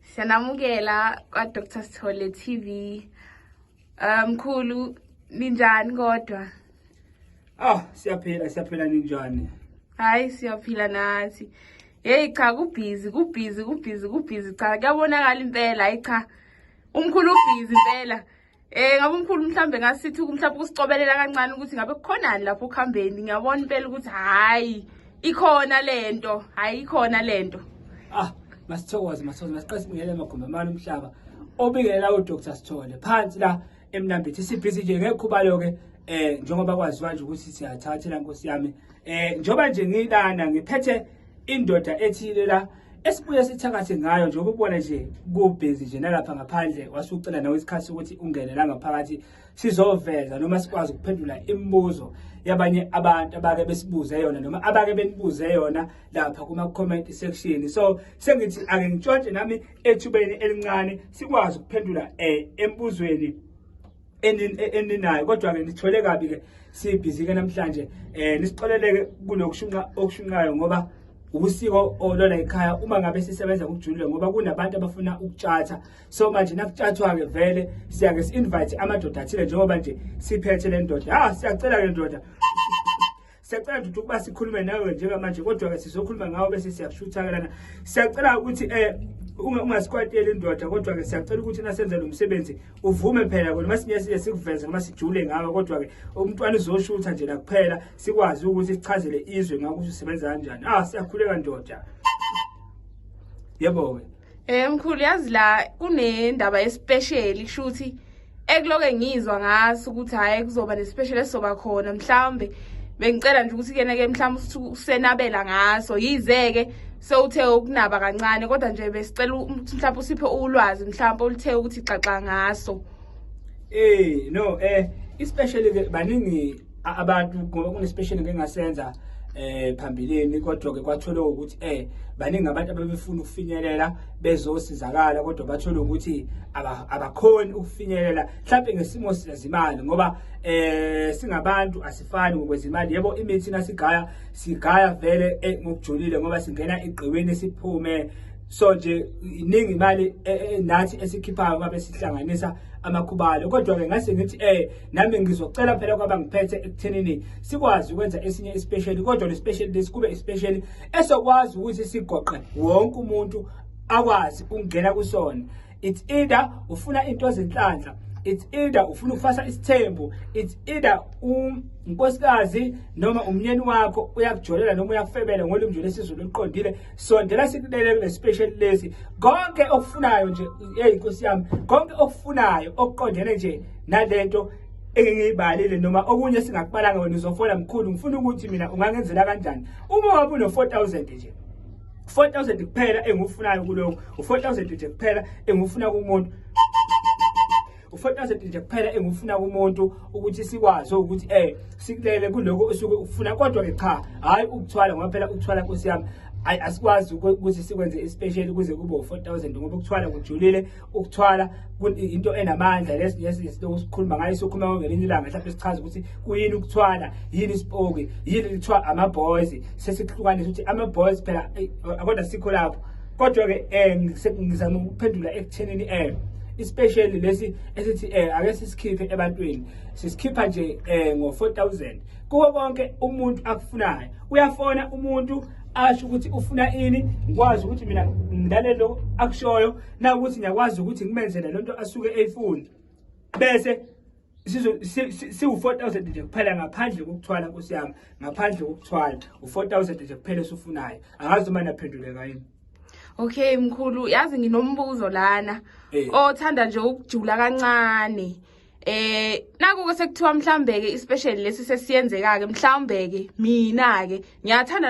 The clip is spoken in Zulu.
Siyanamukela kwa-Dr Sithole TV. Eh, mkhulu um, ninjani kodwa? Ah, siyaphila siyaphila ninjani? Hayi siyaphila nathi. Hey cha kubhizi kubhizi kubhizi kubhizi cha kuyabonakala impela hayi cha. Umkhulu ubhizi impela. Eh ngabe umkhulu mhlambe ngasithi mhlawumbe ukusicobelela kancane ukuthi ngabe kukhonani lapho ukuhambeni ngiyabona impela ukuthi hayi ikhona lento hayi ikhona lento ah masithokoze masithokoze masiqese ngeke amagumbi amani umhlaba obingelela uDr Sithole phansi la emnambithi sibhizi nje ngekhubalo ke eh njengoba kwaziwa nje ukuthi siyathathela nkosi yami eh njoba nje ngilana ngiphethe indoda ethile la esibuye sithakathe ngayo njengoba ubona nje kubhizi nje nalapha ngaphandle wasucela nawe isikhathi sokuthi ungene la ngaphakathi sizoveza noma sikwazi ukuphendula imibuzo yabanye abantu abake besibuze yona noma abake benibuze yona lapha kuma-comment section so sengithi ake ngitshontshe nami ethubeni elincane sikwazi ukuphendula um embuzweni eninayo kodwa-ke nithole kabi-ke sibhizi-ke namhlanje um nisixoleleke kulokushunqa okushunqayo ngoba usiko olona ekhaya uma ngabe sisebenza ngokujulile ngoba kunabantu abafuna ukutshatha so manje nakutshathwa-ke vele siyake si-invite amadoda athile njengoba nje siphethe le ndoda ha ah, siyacela-ke ndoda siyacela ukuthi ukuba sikhulume nawe njengamanje kodwa-ke sizokhuluma ngawo bese siyakushuthakelana siyacela ukuthi um ungasikwateli indoda kodwa-ke siyacela ukuthi nasenze lo msebenzi uvume phela kona uma sinyesile sikuveze noma sijule ngawe kodwa-ke umntwana uzoshutha nje nakuphela sikwazi ukuthi sichazele izwe ngakuthi usebenza kanjani ah siyakhuleka ndoda yebo-ke Eh mkhulu yazi la kunendaba especially kusho ukuthi ekuloke ngizwa ngaso ukuthi hayi kuzoba nespecial esizoba khona mhlawumbe bengicela nje ukuthi kena ke mhlawumbe usenabela ngaso yizeke sewuthe ukunaba kancane kodwa nje besicela ukuthi mhlawumbe usiphe ulwazi mhlawumbe oluthe ukuthi xaxa ngaso eh no eh especially ke baningi abantu ngoba kunespecial ngengasenza eh phambilini kodwa ke kwathole ukuthi eh baningi abantu ababefuna ukufinyelela bezosizakala kodwa bathole ukuthi abakhoni ukufinyelela mhlawumbe ngesimo sezimali ngoba eh singabantu asifani ngokwezimali yebo imithi nasigaya sigaya vele eh, ngokujulile ngoba singena igqiwini siphume so nje iningi imali eh, eh, nathi esikhiphayo babe sihlanganisa amakhubalo kodwa ke ngase ngithi eh nami ngizocela phela kwaba ngiphethe ekuthenini sikwazi ukwenza esinye isipesheli kodwa le special lesi kube isipesheli esokwazi ukuthi sigoqe wonke umuntu akwazi ukungena kusona it's either ufuna into ezinhlanhla it's either ufuna ukufasa isithembu it's either unkosikazi noma umnyeni wakho uyakujolela noma uyakufebela ngolimi nje lesizulu oluqondile sondela sikulele kule special lesi konke okufunayo nje hey nkosi yami konke okufunayo okuqondene nje nalento engiyibalile noma okunye singakubalanga wena uzofona mkhulu ngifuna ukuthi mina ungangenzela kanjani uma wabe uno 4000 nje 4000 kuphela engifunayo kuloko u4000 nje kuphela engifuna kumuntu u4000 nje kuphela engifuna kumuntu ukuthi sikwazi ukuthi eh sikulele kuloko osuke ufuna kodwa ke cha hayi ukuthwala ngoba phela ukuthwala nkosi yami asikwazi ukuthi sikwenze ispecial kuze kube u4000 ngoba ukuthwala kujulile ukuthwala into enamandla lesizinto sikhuluma ngayo sokhuluma ngelinye ilanga mhlawumbe sichaza ukuthi kuyini ukuthwala yini isipoki yini kuthiwa ama-boys sesikuhlukanisa ukuthi ama-boys phela kodwa sikho lapho kodwa-ke um ngizama ukuphendula ekuthenini um especially lesi esithi um ake sisikhiphe ebantwini sisikhipha nje um ngo-four thousand kuwo konke umuntu akufunayo uyafona umuntu asho ukuthi ufuna ini ngikwazi ukuthi mina ngilalelo akushoyo na ukuthi ngiyakwazi ukuthi ngimenzele lento asuke eyifuna bese siwu-4000 nje kuphela ngaphandle kokuthwala nkosi yami ngaphandle kokuthwala u-4000 nje kuphela esufunayo angazi uma naphenduleka yini okay mkhulu yazi nginombuzo lana eh. othanda nje ukujula kancane eh nakuke sekuthiwa mhlawumbe-ke ispecial lesi sesiyenzeka-ke mhlawumbe-ke mina-ke ngiyathanda